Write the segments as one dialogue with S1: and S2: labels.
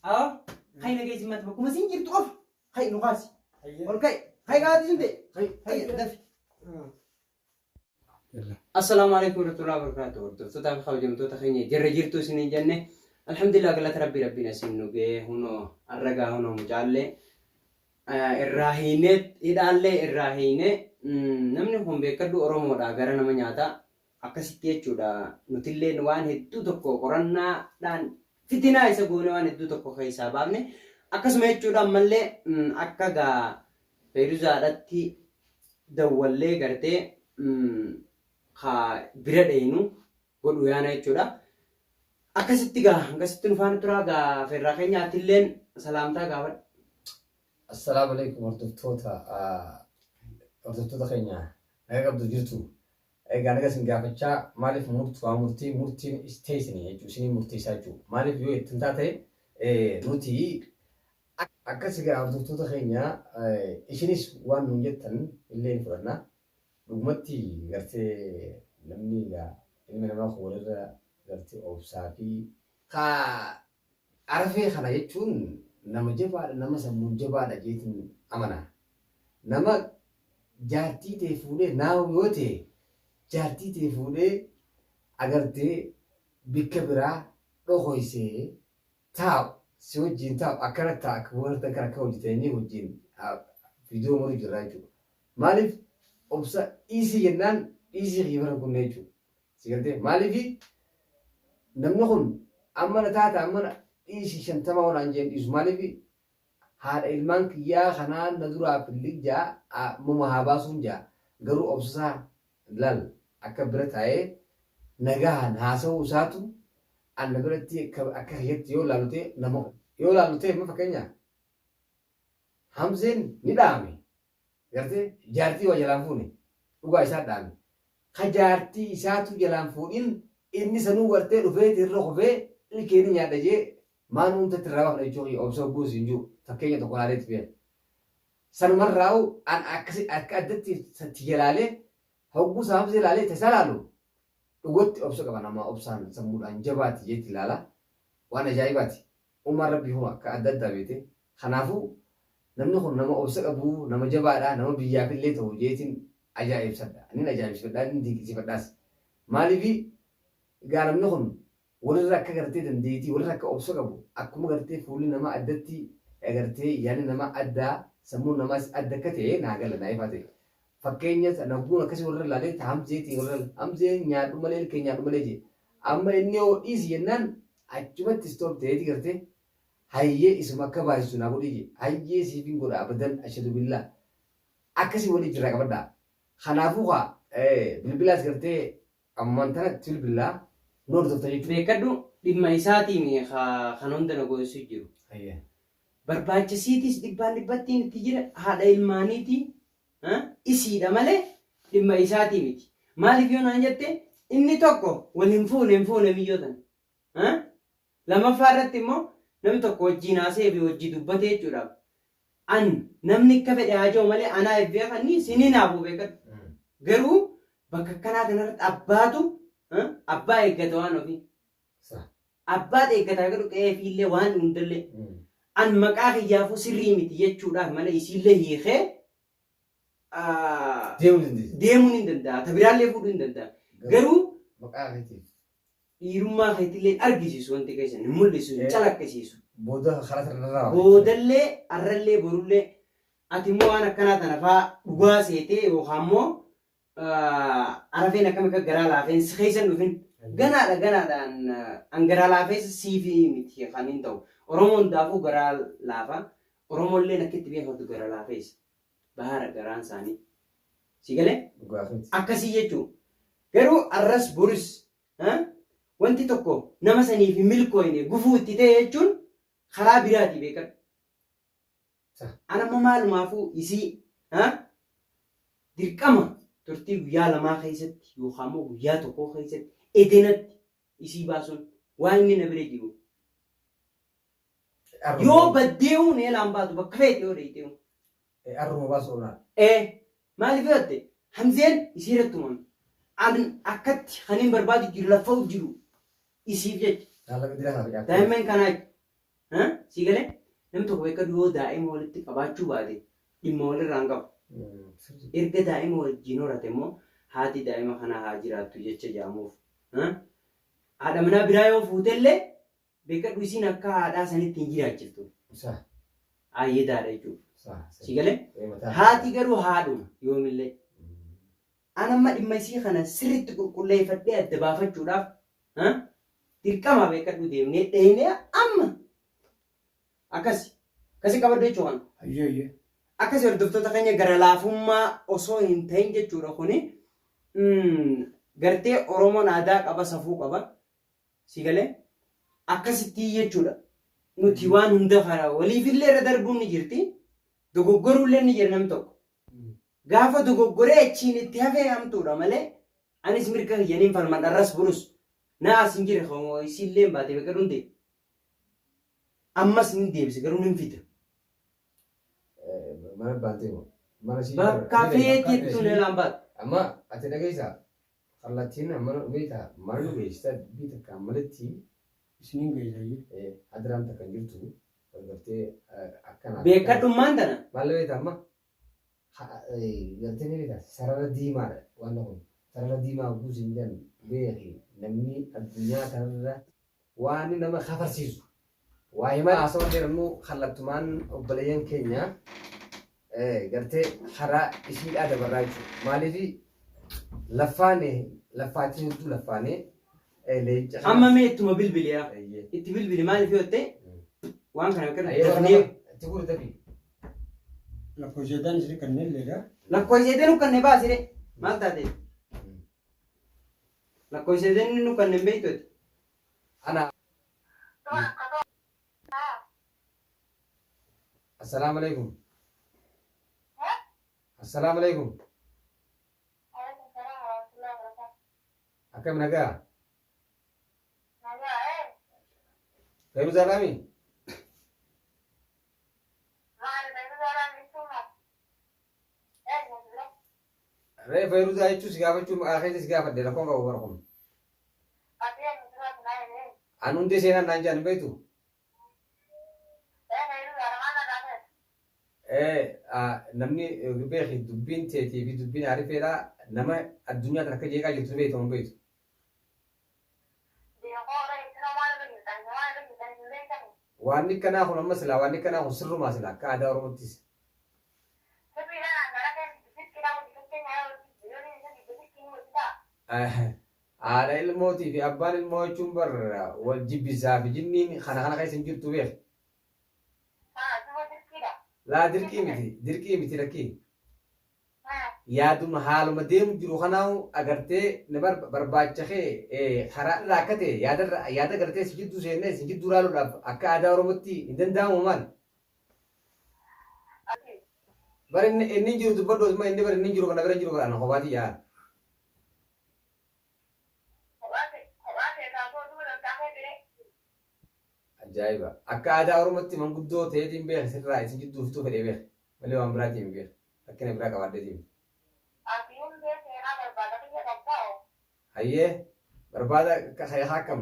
S1: Awa, kai na gaji mata kuma sin jirtu of. Kai nu kasi. Ol kai. Kai ga tin de. Kai kai dafi. Assalamu alaikum warahmatullahi wabarakatuh. Hordoftoota fi kabajamtoota keenya jirra jirtu isiniin jenne. Alhamdulillah galata rabbii rabbiin asiin nu ga'ee hunoo arragaa hunoo mucaallee irraa hiinee hidhaallee irraa hiinee namni kun beekadhu Oromoodha gara nama nyaata. Akkasitti jechuudha nutilleen waan hedduu tokko qorannaadhaan fitinaa isa goone waan hedduu tokko keessaa baafne akkasuma jechuudha ammallee akka gaa feeruzaadhatti dawwallee gartee ka bira dheeynu godhu yaana jechuudha. Akkasitti gaa akkasitti nufaan turaa gaa feerraa keenya atilleen salaamtaa gaafadhu. Assalaamu
S2: alaikum hordoftoota hordoftoota keenya nagaa qabdu jirtu Egaa naga isin gaafachaa maalif murt waa murtii murtiin istee isinii jechuu isinii murteessaa jechuu maalif yoo ittin taate nutii akkas egaa hordoftoota keenya isinis waan nuun jettan illee ni fudhanna dhugumatti gartee namni egaa ilmi namaa kun walirra gartee obsaa fi kaa Arafee kana jechuun nama jabaadha nama sammuun jabaadha jeetin amana. Nama jaartii tee fuudhee naahu yoo ta'e jaartii tee fuudhee agartee bikka biraa dhokoysee taa'u si wajjiin taa'u akkana ta'a akka warda kan akka hojjetanii wajjiin viidiyoo maru jirraa jechuudha. Maaliif obsa dhiisii jennaan dhiisii kiyya bara kunnee jechuudha. Si galtee maaliifi namni kun amma na taata amma na dhiisi shantama hoo naan jeen dhiisu maaliifi haadha ilmaan kiyyaa kanaa na duraa fillig jaa a muma haa baasuun jaa garuu obsasaa laal akka bira taa'ee nagahaan haasa'uu isaatu an na biratti akka akka kiyyatti yoo laalu ta'e nama yoo laalu ta'e amma fakkeenyaa Hamzeen ni dhaame. Gartee jaartii waa jalaan fuune dhugaa isaa dhaame ka jaartii isaatu jalaan fuudhin inni sanuu wartee dhufeeti irra kufee ilkee ni nyaadha jee maan uumtatti irraa baafna jechuu kiyya obsa hogguu siin juu fakkeenya tokko laalee tufee sanumarraa'u an akkasi akka addatti satti jalaalee hogguu saamsee laalee tasaa laalu dhugatti obsa qaba namaa obsaan sammuudhaan jabaati jeetti laala waan ajaa'ibaati Uumaan Rabbii homa akka adda addaa beete. Kanaafuu namni kun nama obsa qabu, nama jabaadha, nama biyyaaf illee ta'u jeetiin ajaa'ibsadha. Nin ajaa'ibsifadhaa, nin dinqisiifadhaas. Maaliif egaa namni kun walirra akka gartee dandeetii, walirra akka obsa qabu, akkuma gartee fuulli namaa addatti, gartee yaadni namaa adda, sammuun namaas adda akka ta'e naa gala, naa ifaa ta'e. fakkeenya lagguun akkasii warra ilaalee ta hamzeetiin warra hamzee nyaadhu malee ilkee nyaadhu malee jee amma inni yoo dhiisi jennaan achumatti istoop ta'eeti gartee hayyee isuma akka baay'isu naa godhii jee hayyee siifin godha abadan ashadu billaa akkasii walii jirraa qabadhaa kanaafuu kaa bilbilaas gartee ammaan tanatti bilbilaa nu hordofta jechuudha. Beekadhu dhimma
S1: isaatiin kan hunda na goonsu jiru. Barbaachisiitis dhibbaan dhibbattiin itti jira haadha ilmaaniitii isiidha malee dhimma isaatii miti. Maaliif yoo naan jette inni tokko wal hin fuune hin fuune miyyoo tana. Lamaffaa irratti immoo namni tokko wajjiin haasa'ee fi wajjii dubbate jechuudhaaf an namni akka fedhe haa jiru malee anaa eebbee kannii sin hinaafu beekadhu. Garuu bakka akkanaa kanarratti abbaatu abbaa eeggata waan ofii. Abbaat eeggata haga dhuqe'ee fiillee waan hundelle an maqaa kiyyaafuu sirrii miti jechuudhaaf malee isiillee hiikee deemuun hin danda'a. Ta biraallee fuudhuu hin danda'a. Garuu dhiirummaa keetillee hin argisiisu wanti keessan hin mul'isu hin calaqqisiisu. Boodallee arrallee borullee ati immoo waan akkanaa tana faa dhugaa seetee yookaan immoo Arafeen akkam akka garaa laafeen si keessa hin dhufin. Ganaadha ganaadhaan an garaa laafeessa siifi miti kan hin ta'u. Oromoo hundaafuu garaa laafa. Oromoolleen akka itti beekamtu gara laafeessa. Bahaara garaan isaanii. Si galee? Dhugaafeeti. Akkasii jechuun. Garuu arras boris ha? wanti tokko nama saniif hin milkooyne gufuu itti ta'e jechuun karaa biraati beekadhu. Sa, an amma maalumaafuu isii ha dirqama turtii guyyaa lamaa keessatti yookaan immoo guyyaa tokkoo keessatti edenatti isii baasuun waa inni na bira jiruuf. Yoo baddee'uu neelaan baatu bakka feete yoo deeytee'uu. Arruma
S2: baasu qabnaa. Ee maaliif
S1: yoo ta'e hamzeen isii irratti uumame. An akkatti kan hin barbaadu jiru laffa'u jiru isiif jecha. Daa'imman kanaa jecha. Haa? Sii galee? Namni tokko beekkadu yoo daa'ima walitti qabaachuu baate dhimma walirraa hin qabu. Erga daa'ima wajjin horate immoo haati daa'ima kanaa haa jiraattu jecha jedhamuuf. Haa? Haadha manaa biraa yoo fuutellee beekkadhu isiin akka haadhaa sanitti hin jiraachiftu. Saha. Aayyedaadha jechuudha. Saha. Sii galee? Ee mataa. Haati garuu haadhuma yoomillee. An amma dhimma isii kana sirritti qulqulleeyfadhee adda baafachuudhaaf dirqamaa beekkadhuu deemnee dheeynee amma akkasi akkasi qabadhu jechuu kana. Hayyee hayyee. Akkasi hordoftoota keenya gara laafummaa osoo hin tahin jechuudha kuni gartee Oromoon aadaa qaba safuu qaba si galee akkasittii jechuudha nuti waan hunda kana waliifillee irra darbuun ni jirti dogoggoruullee ni jira namni tokko Gaafa dogoggoree achiin itti hafee hamtuudha malee anis mirga kiyya nin falmadha arras borus na aarsi hin jire kan isiilleen baate beqa dhunte ammas nin deebisa garuu nin fida.
S2: Mana baantee moo? Mana ishii Bakka feetetti
S1: tun elaan baate. Amma ati
S2: dhageessaa? Kallattiin ammana dhufee taa maal nu geessita dubbii takka ammalitti. Isiniin
S3: geessayyuu. Ee hadraan takka hin jirtu
S2: gargartee akkana. Beekkadhummaan tana.
S1: Maal beekta amma
S2: gartee ni beekta sarara diimaadha waan kun sarara diimaa oguu siin jedhan beeki namni addunyaa kanarra waan nama kafarsiisu Waayima haasawa heerumuu kallattumaan obboleeyyan keenya gartee karaa ishiidhaa dabarraa jechuudha. Maaliifi laffaane laffaachiin jirtu laffaanee leenca kanas. Amma mee ittuma
S1: bilbili yaa. Eeyyee. Itti bilbili maaliif yoo ta'e waan kana akka Ayyee warra dafnee lafa itti guuri tabii.
S3: Lakkoo jedhaan isin kan hin leegaa. lakkoo ishee deenu kan ne
S1: baasire maal taate lakkoo ishee deenu nu kan ne beektu Ana
S2: Assalaamu alaikum. Assalaamu alaikum. Akkam nagaa? Fayyuu zaalaami? Ree fayyuu zaa jechuun si gaafachuu maqaa keessa si gaafadhe rakkoon qabu bara kun. An hundee seenaan naan jedhan hin beektu? Namni beeki dubbiin teetii fi dubbiin aarifeedha nama addunyaa tana akka jeeqaa jirtu beektu hin beektu? Waanni kanaa kun amma silaa waanni kanaa kun sirrumaa silaa akka aadaa Oromottis. Haadha ilmootii fi abbaan ilmoo jechuun bar wal jibbisaa fi jinniin kana kana keessa hin jirtu beek. Laa dirqii miti dirqii miti lakkii. Yaaduma haaluma deemu jiru kanaahu agartee na bar- barbaacha kee eh, karaa irraa akka ta'e yaadarra yaada agartee si jidduu seennee si jidduu raaluudhaaf akka aadaa Oromootti hin danda'amu maal? Bar inni inni jiru dubbadhu osuma inni bar inni jiru kana bira jiru bar ana kophaa tiyya. Ajaa'iba. Akka aadaa Oromootti manguddoo ta'eetiin beeka sirraa isin jidduu fixuu fedhee beeka. Malee waan biraatiin hin beeka. Rakkina biraa qabaaddeetiin. Hayyee barbaada akka akkam.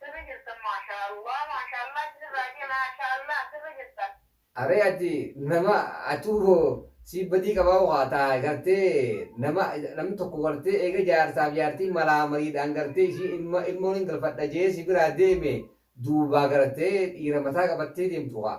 S2: Sirri jirtan maashaa Allah maashaa Allah isin raajee maashaa Allah sirri jirtan. Aree ati nama atuu hoo sii badii qabaa hoo kaa taa gartee nama namni tokko gartee eega jaarsaaf jaartiin malaa mariidhaan gartee ishii ilma ilmoon hin galfadha jee si biraa deeme duubaa gartee dhiira mataa qabattee deemtu kaa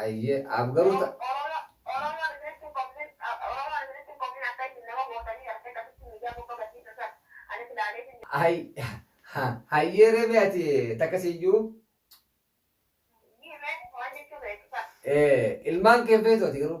S2: Ayyee aaf garuu ta. Hayyee ree mee ati takka siyyuu. Ilmaan kee hin feetu ati garuu.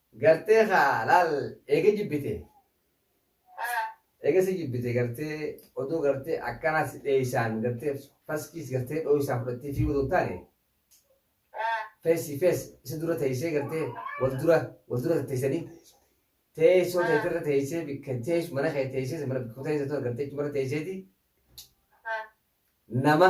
S2: Gartee kaa laal eega jibbite. Eega si jibbite gartee oduu gartee akkanaa si dheeysaan gartee faskiis gartee dhooysaa fudhattee fiiguu osoo hin taane. Feesi fees isa dura teeysee gartee wal dura wal dura teeysanii teessoo teetirra teeysee bikka teessu mana kee teeysee mana bikku teeysee too gartee chumara teeyseeti nama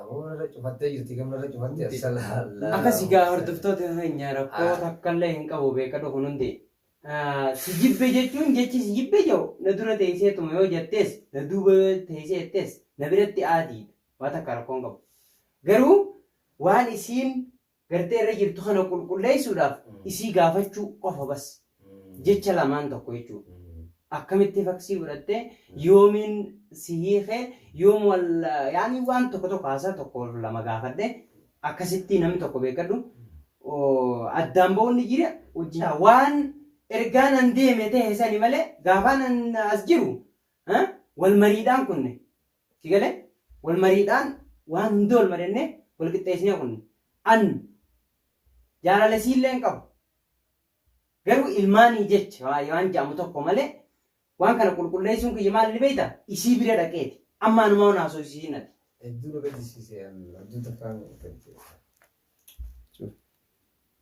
S2: Aboo irra cufattee jirti gamna irra cufattee asalaallaa. Akkasi gaa hordoftoota
S1: keenya rakkoo Ah. takka illee hin qabu beekadhu kun hundi. Ah, Si jibbe jechuun jechi si jibbe jedhu na dura teesseetuma yoo jettees na duuba yoo teessee jettees na biratti aadiidha. Waa takka rakkoo hin qabu. Garuu waan isiin gartee irra jirtu kana qulqulleessuudhaaf isii gaafachuu qofa bas jecha lamaan tokko jechuu akkamitti faksii godhattee yoomiin si hiikee yoom wal yaani waan tokko tokko haasaa tokko lama gaafadhe akkasitti namni tokko beekadhu addaan ba'uun ni jira hojii waan ergaan an deeme ta'e sani malee gaafaan an as jiru wal mariidhaan kunne Si galee? Wal mariidhaan waan hunda wal mari'annee wal qixxeessinee kunni. An jaalala isiillee hin qabu. Garuu ilmaanii jecha waa- waan ja'amu tokko malee waan kana qulqulleessuun kiyya maal ni beeyta? Isii bira dhaqeeti. Amma anumaa waan haasofsiisiin ati. Hedduu na
S2: gaddisiise
S1: an
S2: abdii
S1: takkaan
S2: fedhe.